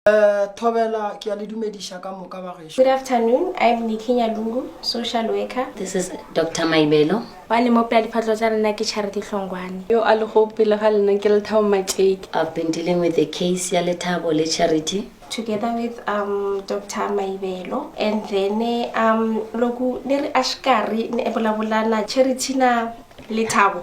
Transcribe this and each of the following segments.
Uh, Thobela, ke a le dumediša ka moka ba gešo. Good afternoon, I am Nikki Nyalungu, social worker. This is Dr. Maibelo. Ba le mopela diphatlo tsa lena ke Charity Hlongwane. Yo a le go pele ga lena ke Lethabo Matšeki. I've been dealing with the case ya Lethabo le Charity. together with um, Dr. Maibelo and then um, loku ne re ashikari ne ebolabulana Charity na Lethabo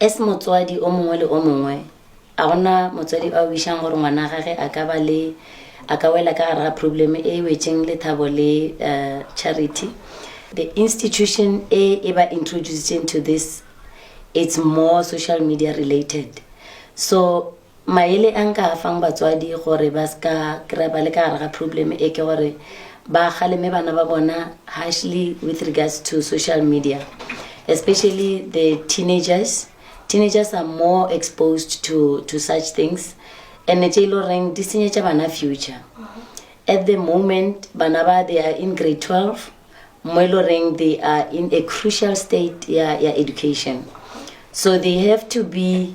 As motswadi o mongwe le o mongwe, a gona motswadi a wišang gore ngwana gage a ka ba le a ka wela ka gare ga problem e wetšeng Lethabo le uh, Charity. The institution e e ba introducing to this it's more social media related. So Maele a nka a fang batswadi gore ba se ka kry-a ba le ka gare ga problem e ke gore ba kgaleme bana ba bona harshly with regards to social media especially the teenagers. Teenagers are more exposed to, to such things and tše e le goreng di senyetša bana future. At the moment bana ba they are in grade 12 mo e le goreng they are in a crucial state ya, ya education so they have to be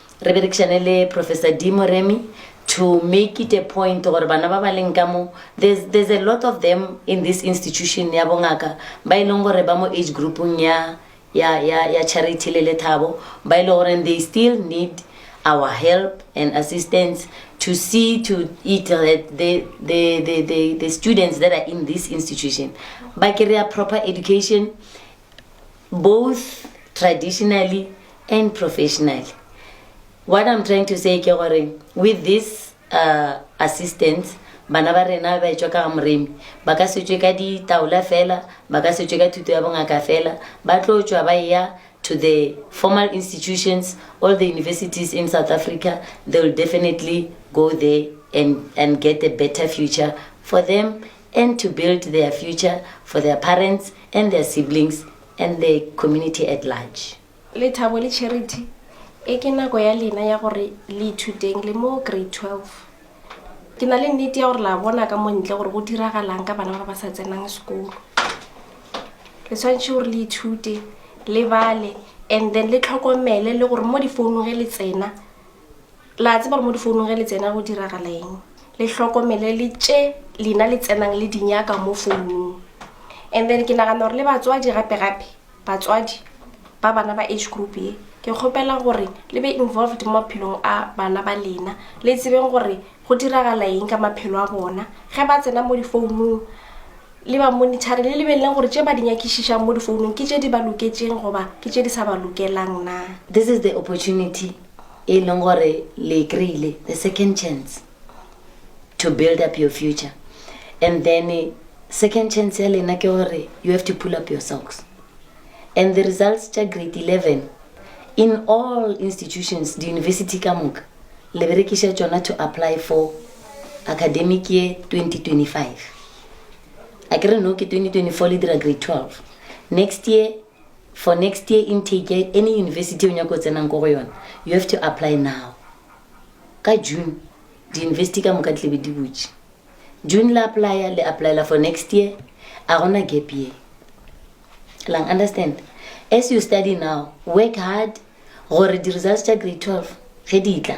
Re berekišane le Professor Dee Moremi to make it a point gore bana ba ba leng ka mo, there's, there's a lot of them in this institution ya bongaka ba e leng gore ba mo age groupung ya, ya, ya, ya Charity le Lethabo, ba e leng gore they still need our help and assistance to see to it that the, the, the, the, the students that are in this institution ba kry-a proper education both traditionally and professionally what I'm trying to say ke gore with this uh, assistance bana ba rena ba etswa ka ga moremi ba ka setswe ka ditaola fela ba ka setswe ka thuto ya bongaka fela ba tlo tswa ba ya to the formal institutions all the universities in south africa they will definitely go there and, and get a better future for them and to build their future for their parents and their siblings and the community at large. Lethabo le Charity, E ke nako ya lena ya gore le ithuteng le mo Grade 12. Ke na le nnete ya gore la bona ka mo ntle gore go diragalang ka bana ba ba sa tsenang sekolo. Le tshwanetse gore le ithute, le bale and then le tlhokomele le gore mo difounung ge le tsena, La tseba gore mo difounung ge le tsena go diragala eng? Le hlokomele le tše lena le tsenang le dinyaka mo founung. And then ke nagana gore le batswadi gape-gape, batswadi ba bana ba age group ye, ke kgopela gore le be involved mo maphelong a bana ba lena. Le tsebeng gore go diragala eng ka maphelo a bona ge ba tsena mo difounung. Le ba monitor-re, le lebeleleng gore tše ba di nyakišišang mo difounung ke tše di ba loketšeng goba ke tše di sa ba lokelang na. This is the opportunity e leng gore le e kry-ile the second chance to build up your future and then second chance ya lena ke gore you have to pull up your socks and the results tša grade 11 in all institutions di-university ka moka le berekiša tšona to apply for academic ye 2025 a ke re no ke 2024 le dira grade 12 next year For next year intake ya any university e o nyako tsenang ko go yona, you have to apply now. Ka June, di-university ka moka di tlebe di butše. June la applya, le applyela for next year, a gona gap year. Lang understand? As you study now, work hard gore di-results tša grade 12 ge di tla,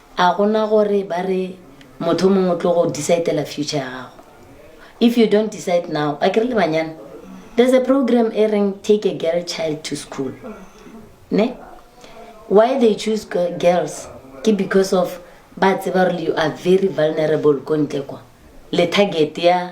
A go na gore ba re motho o mongwe o tlo go decide-ela future ya gago? If you don't decide now, a ke re le banyana, there's a program e reng take a girl child to school. Ne? Why they choose girls ke because of ba tseba gore you are very vulnerable ko ntle kwa. Le target ya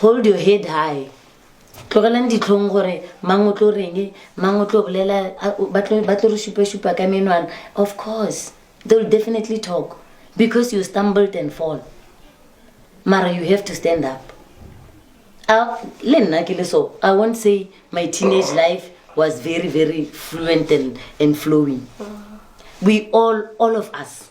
Hold your head high. Tlogelang ditlhong gore mang o tlo reng, mang o tlo bolela, ba tlo ba tlo re šupa-šupa ka menwana. Of course, they will definitely talk because you stumbled and fall. Mara you have to stand up. Uh, le nna ke le so, I won't say my teenage life was very, very fluent and, and flowing. We all, all of us,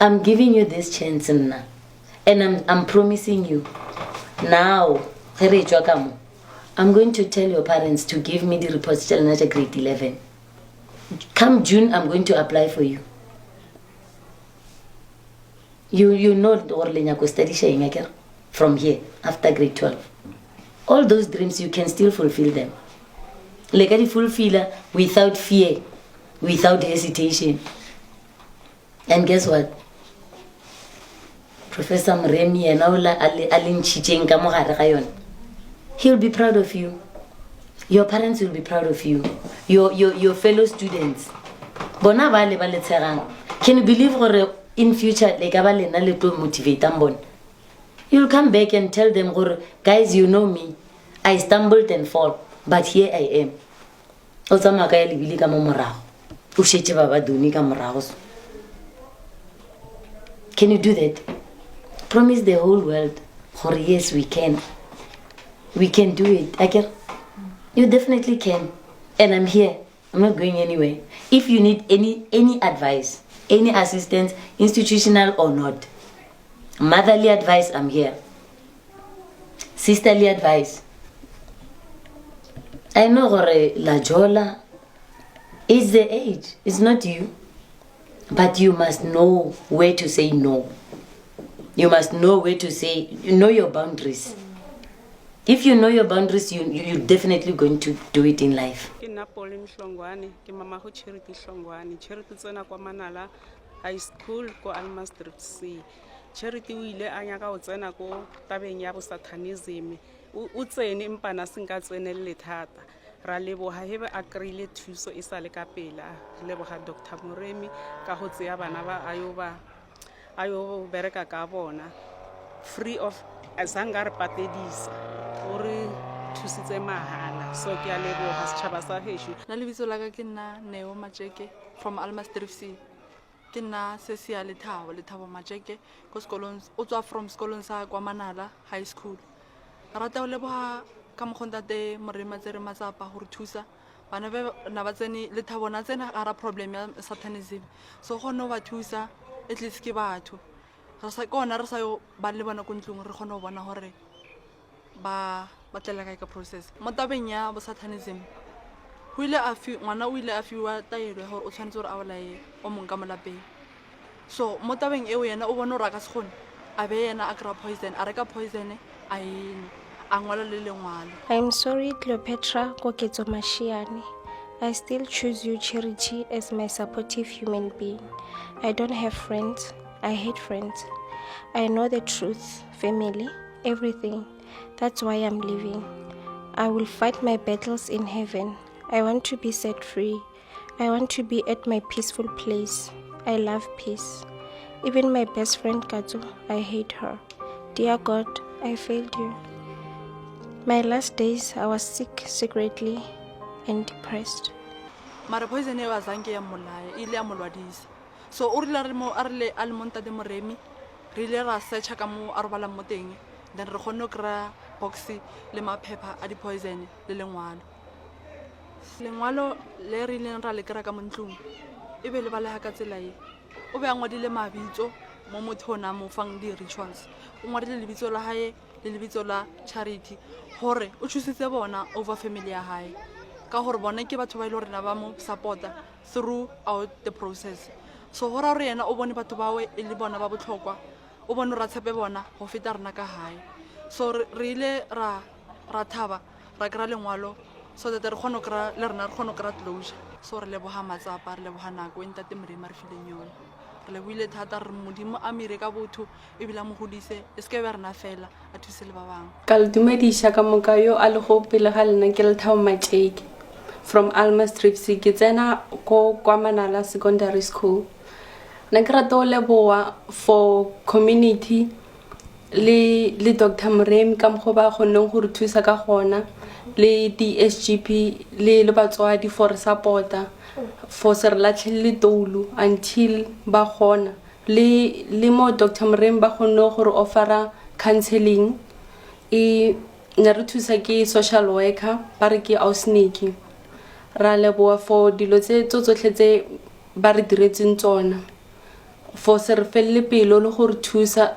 I'm giving you this chance nna and I'm, I'm promising you now ge re etswa ka mo I'm going to tell your parents to give me the reports tša lena tša grade 11 come June I'm going to apply for you you, you know gore le nyako studiša eng akere from here after grade 12 all those dreams you can still fulfill them le ka di fulfilla without fear without hesitation and guess what professor moremi yena ola a le ntšhitšeng ka mogare ga yone he'll be proud of you your parents will be proud of you your, your, your fellow students bona ba le ba le tshegang can you believe gore in future le ka ba lena le tlo motivatang bona you'll come back and tell them gore guys you know me i stumbled and fall but here i am o tsamaya ka ya lebile ka mo morago o šetse ba ba done ka morago so can you do that promise the whole world gore yes we can we can do it aker you definitely can and i'm here i'm not going anywhere if you need any any advice any assistance institutional or not motherly advice i'm here sisterly advice i know gore la jola is the age is not you but you must know where to say no you must know where to say you know your boundaries if you know your boundaries you, you, you're definitely going to do it in life ke nna pole mhlongwane ke mama go charity hlongwane charity tsena kwa manala high school ko almastrip c Charity o ile a nyaka go tsena ko tabeng ya bosathanism o, o tsene mpana a senka tsenelele thata ra leboga ge be a kry-ile thuso e sa le ka pela re leboga dr moremi ka go tseya bana ba a yo ba a yo bereka ka bona free of a sanka a re patedisa o re thusitse mahala so ke a leboga setšhaba sa gešo na lebitso la ka ke nna neo matšeke from almastrifc Ke nna Sesia Lethabo, Lethabo Matšeke, ko sekolong, o tswa from sekolong sa kwa Manala High School. Re rata go leboga ka mokgwa ntate Moremi a tsere matsapa go re thusa bana ba na ba tsene Lethabo na tsena gara problem ya satanism so kgone go ba thusa at least ke batho re sa ke ona re sa yo ba le bona ko ntlong re kgone go bona gore Ba batlela kae ka process? Mo tabeng ya bosatanism, go ile a fi, ngwana o ile a fiwa taelo ya gore o tshwanetse gore a bolaye o mong ka molapeng. So mo tabeng eo yena o bone gore a ka se kgone, a be yena a kry-a poison, a reka poison a ene, a ngwala le lengwalo. I'm sorry Cleopatra Koketso Mashiane. I still choose you Charity as my supportive human being. I don't have friends. I hate friends. I know the truth. family everything that's why i'm living i will fight my battles in heaven i want to be set free i want to be at my peaceful place i love peace even my best friend katsu i hate her dear god i failed you my last days i was sick secretly and depressed mara poison eo azange ya mmolaya e ile ya molwadisa so o rile a le mo ntate moremi Re ile ra search-a ka mo a robalang mo teng then re kgonne go kry-a box le maphepha a di-poison le lengwalo. Lengwalo le re ileng ra le kry-a ka mo ntlong e be le balega ka tsela e, o be a ngwadile mabitso mo motho o ne a mo fang di-rituals. O ngwadile lebitso la hae le lebitso la Charity gore o choose-itse bona over family ya hae ka gore bone ke batho ba e le gore ne ba mo support-a throughout the process. So go ra gore yena o bone batho bawe e le bona ba botlhokwa, o bone gore a tshepe bona go feta rena ka gae. So re ile ra ra thaba ra kry-a lengwalo so that re kgone go kry-a le rena re kgone go kry-a closure. So re leboga matsapa, re leboga nako e Ntate Modimo a re fileng yone. Re lebohile thata, re re Modimo a mo ire ka botho, ebile a mo godise e seke ba rena fela a thuse le ba bangwe ka le dumediša ka moka yo a lego pele ga lena ke lethabo matšeke from alma stripsy ke tsena ko kwa manala secondary school na ke rata go leboa for community le le dr moremi ka mokgwa ba kgonneng go re thusa ka gona le di-sgp le le batswadi for re supporta for se re latlhelele toulu until ba kgona Le, le mo Doctor Moremi ba kgonne go re offer-a counselling. E, ne re thusa ke social worker, ba re ke Ausiniki. Ra leboha for dilo tse, tso tsohle tse ba re diretseng tsona. For se re felle pelo le go re thusa.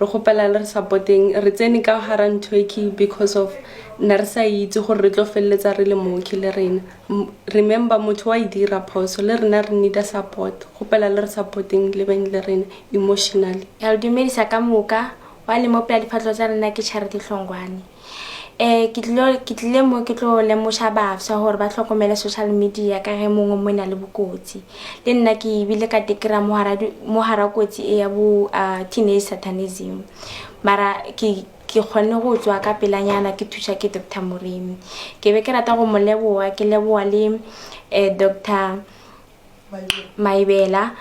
re kgopela le re support-eng re tsene ka hara ntho e ke because of na re sa itse gore re tlo feleletsa re le mooki le rena remember motho wa e dira phoso le rena re needa support kgopela le re support-eng le beng le rena emotionally ke a le dumedisa ka moka wa le mopela difatlho tsa rena ke charity hlongwane Ke tlilo ke tlile mo ke tlo lemoša bafsa hore ba hlokomele social media ka ge mongwe mo na le bokotsi. Le nna ke bile ka tekira mo hara mo hara kotsi e ya bo teenage satanism. Mara ke ke kgonne go tswa ka pelanyana ke thuswa ke doctor Moremi. Ke be ke rata go mo leboha ke leboha le doctor Maebela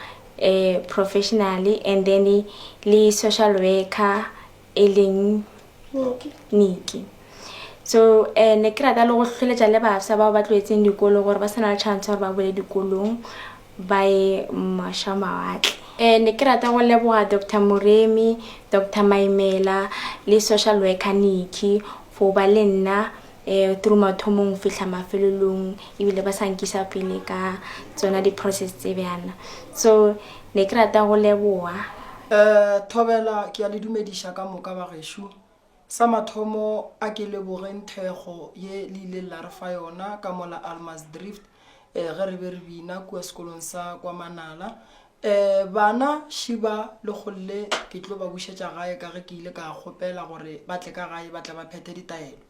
professionally and then le social worker. e leng niki so um ne ke rata le go tlholetša le bafsa bao ba tloetseng dikolo gore ba se na le chance gore ba bole dikolong ba ye maša mawatle um ne ke rata go leboga dr moremi dr maimela le social worker niki for ba le nna through mathomong go fihla mafelelong ebile ba sa nkisa pele ka tsona di-process tse bjana so ne ke rata go leboa um thobela ke a le dumediša ka moka bagešo sa mathomo a ke lebogeng thekgo ye le ileng la re fa yona ka mola almas drift um ge re be re bina kua sekolong sa kwa manala Ee, bana šiba le golle ke tlo ba bušetša gae ka ge ke ile ka kgopela gore ba tle ka gae ba tle ba phethe ditaelo.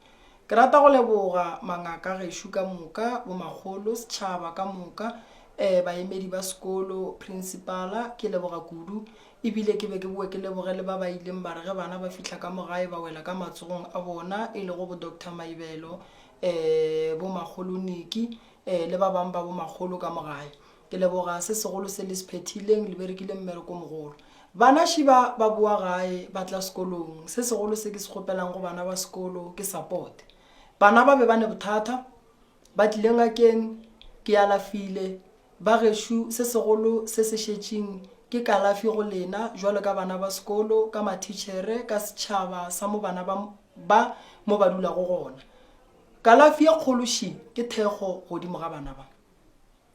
Ke rata go leboga mangaka gešo ka moka, bomakgolo, setšhaba ka moka, ee, baemedi ba sekolo, prinsipala, ke leboga kudu. E bile ke be ke boe ke leboge le ba ba ileng ba re ge bana ba fihla ka mo gae ba wela ka matsogong a bona e lego bo Doctor Maibelo, ee, bo Makgolo Nicky, ee, le ba bang ba bomakgolo ka mo gae. Ke leboga se segolo se le se phethileng, le berekile mmereko mogolo. Bana šiba ba boa gae ba tla sekolong, se segolo se ke se kgopelang go bana ba sekolo ke support. Bana ba be ba ne bothata, ba tlile ngakeng, ke alafile. Ba gešo se segolo se se šetšeng ke kalafi go lena bjalo ka bana ba sekolo, ka mathitšhere, ka setšhaba sa mo bana ba ba mo ba dulago gona. Kalafi ye kgolo ši ke thekgo godimo ga bana ba.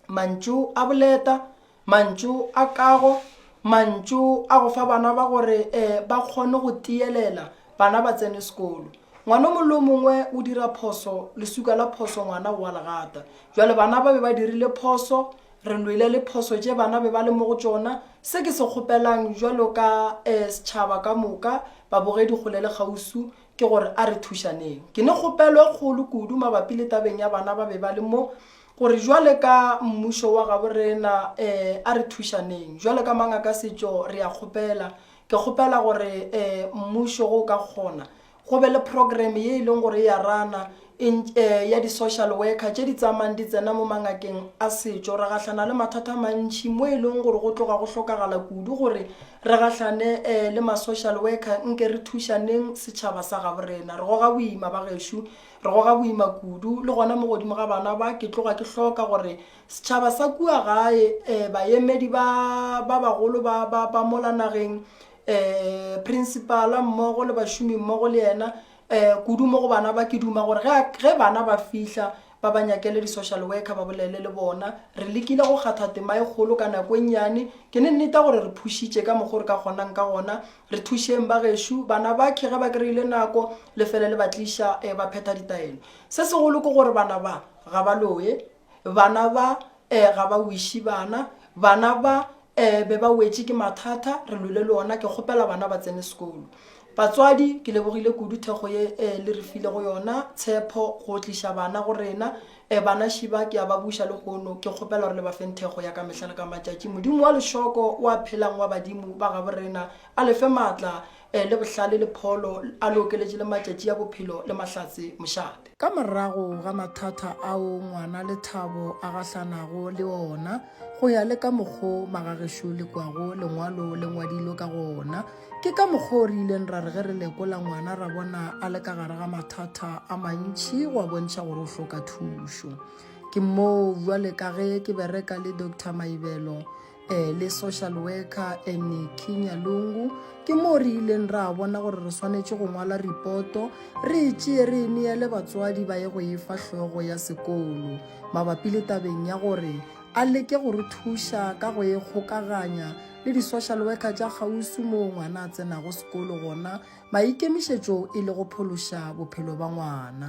mantšu a boleta mantšu a kago mantšu a go fa bana ba gore um ba kgone go tiyelela bana ba tsene sekolo ngwana o mongwe le o mongwe o dira phoso lesuka la phoso ngwana o a legata jale bana ba be ba dirile phoso re lwele le phoso tše bana be ba le mo go tšona se ke se kgopelang jalo ka um setšhaba ka moka babogedi kgole le kgausu ke gore a re thušaneng ke ne kgopelo e kgolo kudu mabapi le tabeng ya bana ba be ba le mo Gore jwale ka Mmušo wa gabo rena, ee, a re thušaneng. Jwalo ka mang a ka setšo, re a kgopela. Ke kgopela gore, ee, Mmušo, go o ka kgona, go be le program ye e leng gore e a rana, en, ee, ya di-social worker tše di tsamayang di tsena mo mangakeng a setšo. Re gahlana le mathata a mantši mo e leng gore go tloga go hlokagala kudu gore re gahlane, ee, le ma-social worker. Nke re thušaneng, setšhaba sa gabo rena. Re goga boima, bagešo. Re goga boima kudu, le gona mo godimo ga bana ba, ke tloga ke hloka gore setšhaba sa kua gae, eh, bayemedi ba, ba bagolo ba, ba, ba mola nageng, eh, prinsipala mmogo le bašomi mmogo le yena, eh, kudu mo go bana ba, ke duma gore ge a, ge bana ba fihla, ba ba nyakele di-social worker ba bolele le bona. Re lekile go kgatha tema e kgolo ka nako e nnyane. Ke ne nneta gore re phušitše ka mokgo re ka kgonang ka gona, Re thušeng bagešo, bana ba ke ge ba kry-ile nako le fele le ba tliša um ba phetha ditaelo. Se segolo ke gore bana ba ga ba loye, bana ba um ga ba wiše bana, bana ba um be ba wetše ke mathata re lwele le ona, ke kgopela bana ba tsene sekolo. Batswadi ke lebogile kudu thekgo ye um le re file go yona tshepho go tliša bana go rena, E bana šiba ke a ba buša lehono, ke kgopela gore le ba feng thekgo ya ka mehla le ka matšatši. Modimo wa lešoko wa phelang wa badimo ba gabo rena a le fe maatla, e, le bohlale le pholo, a le okeletše le matšatši a bophelo le mahlatse mošate. Ka morago ga mathata ao ngwana Lethabo a gahlanago le ona, go ya le ka mokgo magagešo le kwago lengwalo le ngwadilwe ka gona, Ke ka mokgwa o re ileng ra re ge re lekola ngwana ra bona a le ka gare ga mathata a mantšhi go a bontšha gore o hloka thušo. Ke moo jwale ka ge ke bereka le Dr Maibelo um le social worker Eniki Nyalungu ke moo re ileng ra bona gore re swanetše go ngwala ripoto re e tšee re e neele batswadi ba ye go e fa hlogo ya sekolo mabapi le tabeng ya gore a leke go re thuša ka go e kgokaganya le di-social worker tša kgauswi moo ngwana a tsenago sekolo gona maikemišetšo e le go phološa bophelo ba ngwana.